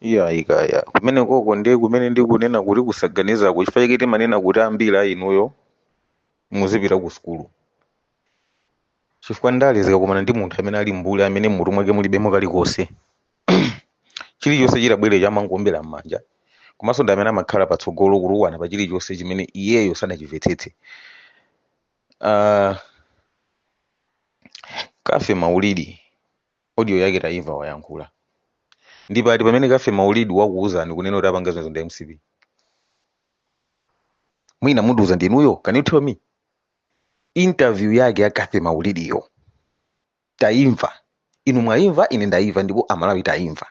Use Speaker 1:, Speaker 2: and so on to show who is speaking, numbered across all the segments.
Speaker 1: iyayi kaya kumenekoko ndiye kumene ndikunena kuti kusaganizaku chifukwa chake timanena kuti ambiri a inuyo muzipita ku sukulu chifukwa ndale zikakumana ndi munthu amene ali mbuli amene mutu mwake mulibemo kalikonse chilichonse chitabwerecho amangoombera m'manja komanso ndi amene amakhala patsogolo kutukwana pa chilichonse chimene iyeyo sanachimvetsetse uh, cathy maulidi Audio yake taimva wayankhula. Ndi pati pamene Cathy Maulidi wakuuzani kunena kuti apanga zimenezo ndi a mcp? Mwina mundiuza ndinuyo? Can you tell me? Interview yake ya Cathy Maulidiyo taimva. Inu mwaimva, ine ndaimva ndipo Amalawi taimva.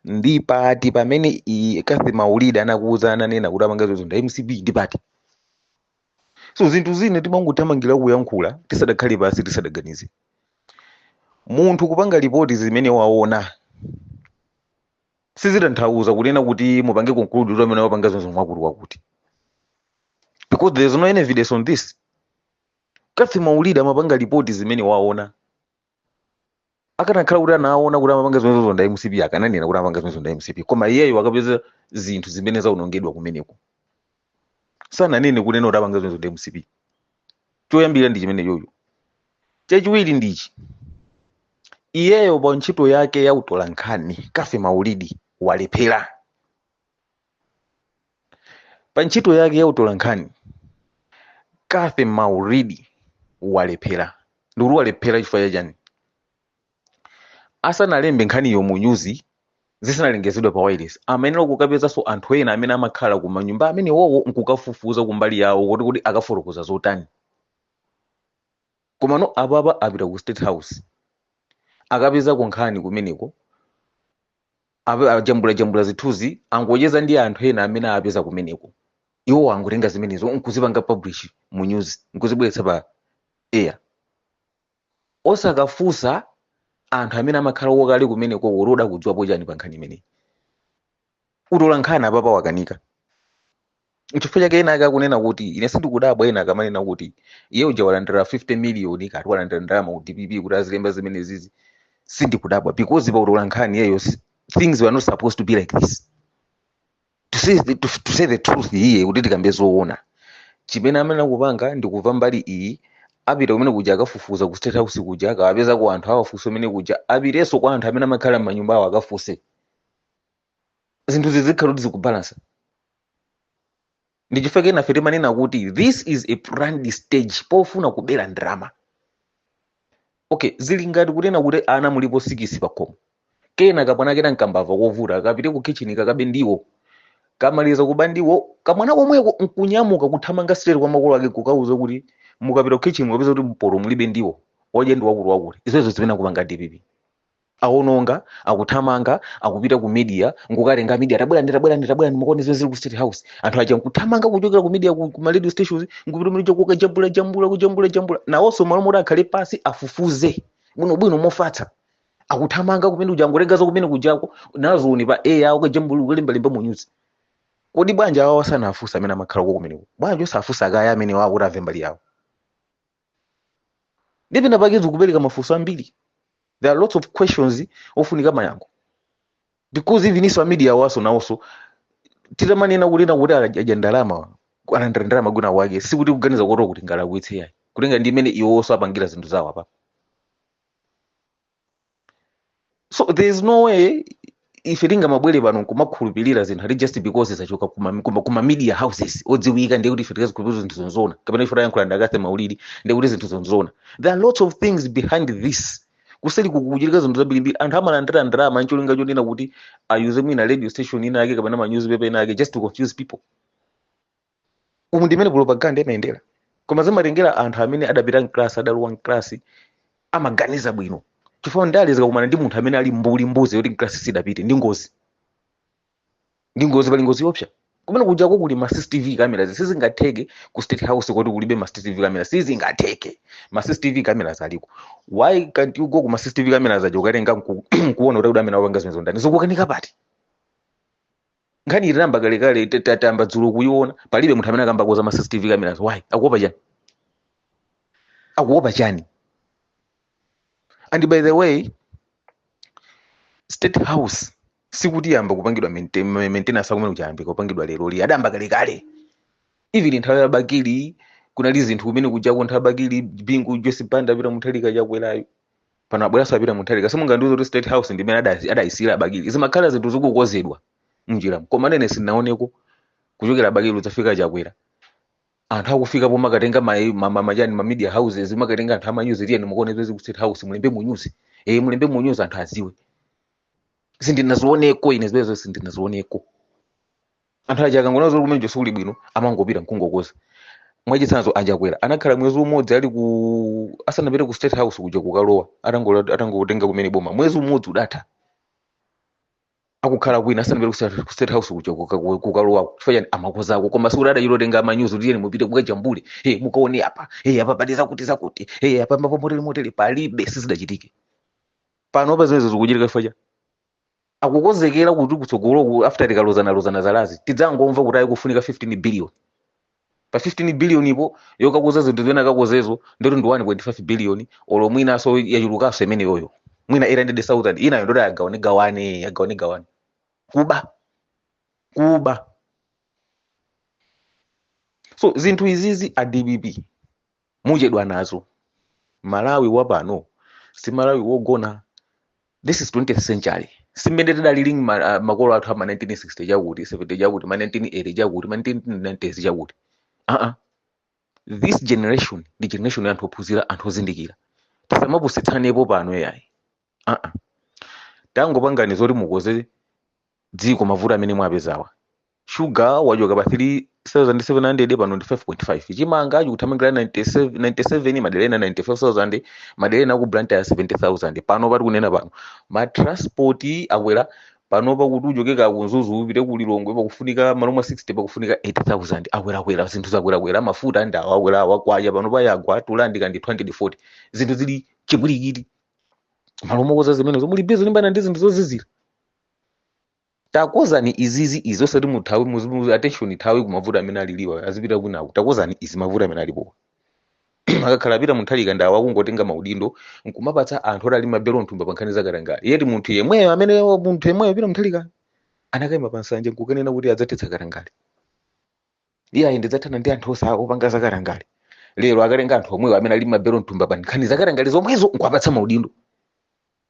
Speaker 1: Ndi pati pamene i- Cathy Maulidi anakuuzani ananena kuti apanga zimenezo ndi a mcp? Ndi pati? so zinthu zina timangothamangira kuyankhula tisadakhale pansi tisadaganize munthu kupanga lipoti zimene waona sizitanthauza kunena kuti mupange conclude kuti amene wapanga zimenezo ndi wakuti wakuti because there is no any evidence on this cathy maulidi amapanga lipoti zimene waona akanakhala kuti anaona kuti amapanga zimenezozo nda mcp akananena kuti amapanga zimenezozo nda mcp koma iyeyo akapeza zinthu zimene zaonongedwa kumeneko sananene kunena kuti apanga zimenezozo nda mcp choyambirira ndi chimenechocho chachiwiri ndichi iyeyo pa ntchito yake ya utolankhani cathy maulidi walephera pa ntchito yake ya utolankhani cathy maulidi walephera ndikuti walephera chifukwa chachani asanalembe nkhaniyo mu nyuzi zisanalengezedwe pa wireless amayenera kukapezanso anthu ena amene amakhala ku manyumba amenewowo nkukafufuza kumbali yawo kuti kuti akafotokoza zotani komano apapa apita ku state house akapezako nkhani kumeneko Apa- ajambulajambula zithunzi angocheza ndi anthu ena amene apeza kumeneko iwo angotenga zimenezo nkuzipanga publish mu news nkuzibweretsa pa air osakafunsa anthu amene amakhalawo kale kumeneko kuti kodi akudziwapo chani pa nkhani imeneyi utolankhani apapa wakanika chifukwa chake ena ake akunena kuti ine sindikudabwa ena akamanena kuti iye uja walandira 50 miliyoni akuti walandira ndalama ku dpp kuti azilemba zimenezizi sindikudabwa because pa utolankhani iyeyo si- things were not supposed to be like this to say, the- to, to say the truth iye kuti tikambe zoona chimene amayenera kupanga ndi kumva mbali iyi apita kumenekuja akafufuza ku state house kuja akawapezako anthu awafunse kumenekuja apitenso kwa anthu amene amakhala m'manyumba awo akafunse zinthu zizikhala kuti zikubalansa nchifukwa chake enafe timanena kuti this is a planned stage pofuna kubera ndalama okay zili ngati kunena kuti ana mulipo sikisi pakhomo kena kamwana kena nkambava kovuta kapite ku kitchen kakabe ndiwo kamaliza kuba ndiwo kamwana komweko nkunyamuka kuthamanga straight kwa makolo ake kukauza kuti mukapita ku kitchen mukapeza kuti mporo mulibe ndiwo odye ndi wakulu wakulu izozo zimene akupanga dpp awononga akuthamanga akupita ku media nkukatenga media tabwerani tabwerani tabwerani mukaone zimene zili ku state house anthu aja nkuthamanga kuchokera ku media ku, ku ma radio stations nkupita muja kukajambula jambula kujambula jambula nawonso mmalo moti akhale pasi afufuze bwino bwino mofatsa akuthamanga kumene kuja angotenga za kumene kujako nazoni pa air ukajambula ukalembalemba mu news kodi bwanji awawa osafunsa amene amakhala uko kumeneko bwanji osafunsa kaya amene wakuti amve mbali yawo ndi pena pake zikupereka mafunso ambiri there are lots of questions ofunika mayankho because even iwo a media waso nawonso titamanena kunena kuti adya ndalama alandira ndalama kwina kwake sikuti kuganiza kuti tingalakwitse yayi kutengera ndi mmene iwowonso apangira zinthu zawo apa so there is no way ife tingamabwere pano nkumakhulupirira zinthu ati just because zachoka kuma, kuma, kuma media houses odziwika ndiye kuti ife tizikhulupirira zinthu zonzoona kapena ife tayankhula ndi akathe maulidi ndiye kuti zinthu zonzoona there are lots of things behind this kuseli kukuchitika zinthu zambirimbiri anthu amalandira ndalama ncholinga chonena kuti ayuze mwina radio station ina yake kapena ma newspaper ina yake just to confuse people umu ndimene propaganda imayendera koma zimatengera anthu amene adapita mklasi adalowa mklasi amaganiza bwino chifukwa ndale zikakumana ndi munthu amene ali mbuli mbuzi yoti mklasi sidapite ndi ngozi ndi ngozi pali ngozi yopsa kumene kujako kuli ma cctv cameras sizingatheke ku state house koti kulibe ma cctv cameras sizingatheke ma cctv cameras aliko why can't you go ku ma cctv cameras aja ukatenga nku- nkuona kuti akuti amene akupanga zimenezo ndani zikukanika pati nkhani inayamba kalekale ta- ta- tayamba dzulo kuyiona palibe munthu amene akukambako za ma cctv cameras why akuopa chani akuopa chani and by the way state house sikuti yamba kupangidwa maintain- ma- maintenance a kumene kuja yayambika kupangidwa lero li adayamba kalekale even nthawi ya bakili kunali zinthu kumene kujako nthawi ya bakili bingu joyce banda peter mutharika chakwerayo pano abweranso a peter mutharika simungandiuze kuti state house ndimene ada- adayisiyira a bakili zimakhala zinthu zikukozedwa mnjiramu koma ine sinaoneko kuchokera a bakili kudzafika a chakwera anthu akufika pomakatenga ma- ma- ma- machani ma media houses kumakatenga anthu amanyuzi tiyeni mukaone zezi ku state house mulembe munyuzi eh mulembe munyuzi anthu aziwe sindinazioneko ine zimenezo sindinazioneko anthu aja akangoona zoti kumeneko sikuli bwino amangopita nkungokoza mwachitsanzo a chakwera anakhala mwezi umodzi ali ku asanapite ku state house kuja kukalowa atangola- atangotenga kumene boma mwezi umodzi udatha akukhala kwina asanapite ku state- ku state house kuja kuka- ku- kukalowako chifukwa chani amakozako koma sikuti adachitotenga manyuzi kuti iyeni mupite kukajambule hey, mukaone apa hey, apa pali zakuti zakuti hey, apa mapomoteli moteli palibe sizidachitike panopa zimenezo zikuchitika chifukwa chani akukonzekera kuti kutsogoloku after tikalozanalozana zalazi tidzangomva kuti ayi kufunika 15 billion pa 15 billionipo yokakoza zinthu zimene akakozezo ndoti ndi 1.5 billion olo mwinaso yachulukanso imeneyoyo mwina 800000 inayo ndoti agawane gawane agawane gawane kuba kuba so zinthu izizi a dpp muchedwa nazo malawi wapano si malawi wogona this is 20th century si mmene tidalili ma, uh, makolo athu ama 1960 chakuti 70 chakuti ma 1980 chakuti ma 1990 chakuti uh -uh. this generation ndi generation ya anthu ophunzira anthu ozindikira tisamapusitsanepo pano yayi aa tangopangani zoti mukoze dziko mavuto amene mwapezawa shuga wachoka pa 3700 pano ndi 5.5 chimanga chikuthamangira 97 97 madera ena 95000 madera ena ku blantyre 70000 panopa tikunena pano matransport akwera panopa kuti uchoke ku mzuzu upite ku lilongwe pakufunika malo mwa 60 pakufunika 80000 akwerakwera zinthu zakwerakwera mafuta ndawo akwerawo kwacha panopa yagwa to rand kaya ndi 240 zinthu zili chipwirikiti malo mokoza zimenezo muli busy kulimbana ndi zinthu zozizira takozani izizi izi osati muthawe muzi- muzi- attention ithawe kumavuto amene aliliwa azipita kwinaku takozani izi mavuto amene alipo akakhala a peter mutharika ndawo akungotenga maudindo nkumapatsa anthu oti ali mabelo mthumba pa nkhani zakatangale yet munthu yemweyo amene munthu yemweyo a peter mutharika anakaima pa nsanja nkukanena kuti adzathetsa katangale iye ayi ndidzathana ndi anthu ose opanga zakatangale lero akatenga anthu omwewo amene ali mabelo mthumba pa nkhani zakatangale zomwezo nkuwapatsa maudindo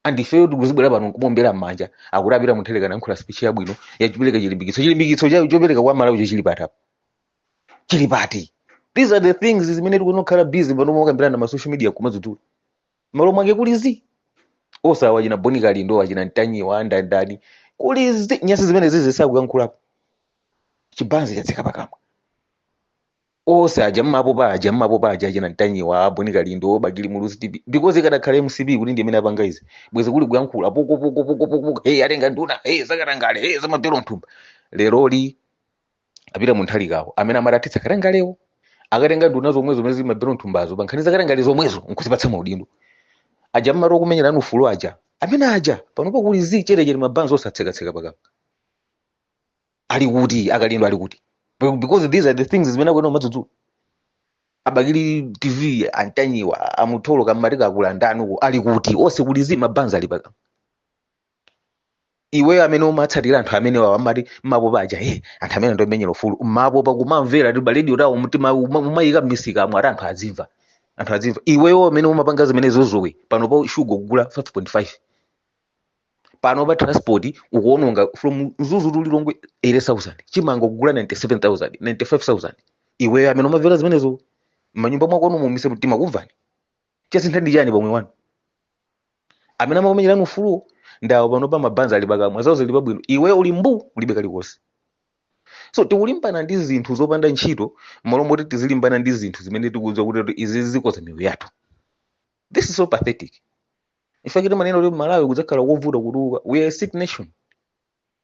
Speaker 1: and ifeyo tikuzibwera pano nkumaombera m'manja akuti a peter mutharika alankhula speech yabwino yopereka chilimbikitso chilimbikitso cha- chopereka kwa amalawi cho chili pati apo chili pati these are the things zimene tikuyenera kukhala busy pano mokambirana ma social media nkumadzudzula malo mwake kuli zii osewa achina bon kalindo achina ntanyiwa andandani kuli zii nyasi zimenezizi sakuyankhulapo chibanzi chatseka pakamwa ose aja mmapopa aja mmapopa aja achina ntanyiwa a bon kalindo bakili muluzi tv because ikadakhala mcp kuti ndi imene apanga izi bwezi kuli kuyankhula poko poko poko poko poko hey atenga nduna hey zakatangale hey za mabelo mthumba leroli apita mtsogoleri wawo amene amati athetsa katangalewo akutenga nduna zomwe zomwe zimaba m'thumbazo pa nkhani zakatangale zomwezo nkuzipatsa maudindo aja mmati okumenyerani ufulu aja amene aja panopo kuli zi chetechete mabanzi atsekatseka pakamwa ali kuti a Kalindo ali kuti Be- because these are the things zimene akunena umadzudzula a Bakili TV a Mtanyiwa a Comrade Kambanje akulandanuko ali kuti onse kuli zi mabanzi ali pakamwa iweyo amene umatsatira anthu amenewawa amati mmabomba aja he anthu amene amenyera ufulu mmapopa kumamvera timarediyo tawo mtima uma- umayika mmisikamo ati anthu azimva anthu azimva iweyo amene umapanga zimene zozowe panopa shuga ukugula 5.5 panopa transport ukuononga from mzuzu to lilongwe 80000 chimanga ukugula 97000 95000 iweyo amene umamvera zimenezo mmanyumba mwakomo muyike mtima kumvani chasintha ndi chani pomwe anthu amene amakumenyerani ufuluwo ndawo panopa mabanzi ali pakamwa zawo zili pabwino iwe uli mbu ulibe kalikonse so tikulimbana ndi zinthu zopanda ntchito mmalo moti tizilimbana ndi zinthu zimene tikudziwa kuti kuti izi zikoza miyoyo yathu this is so pathetic in fact timanena kuti malawi kudzakhala kovuta kutukuka we are a sick nation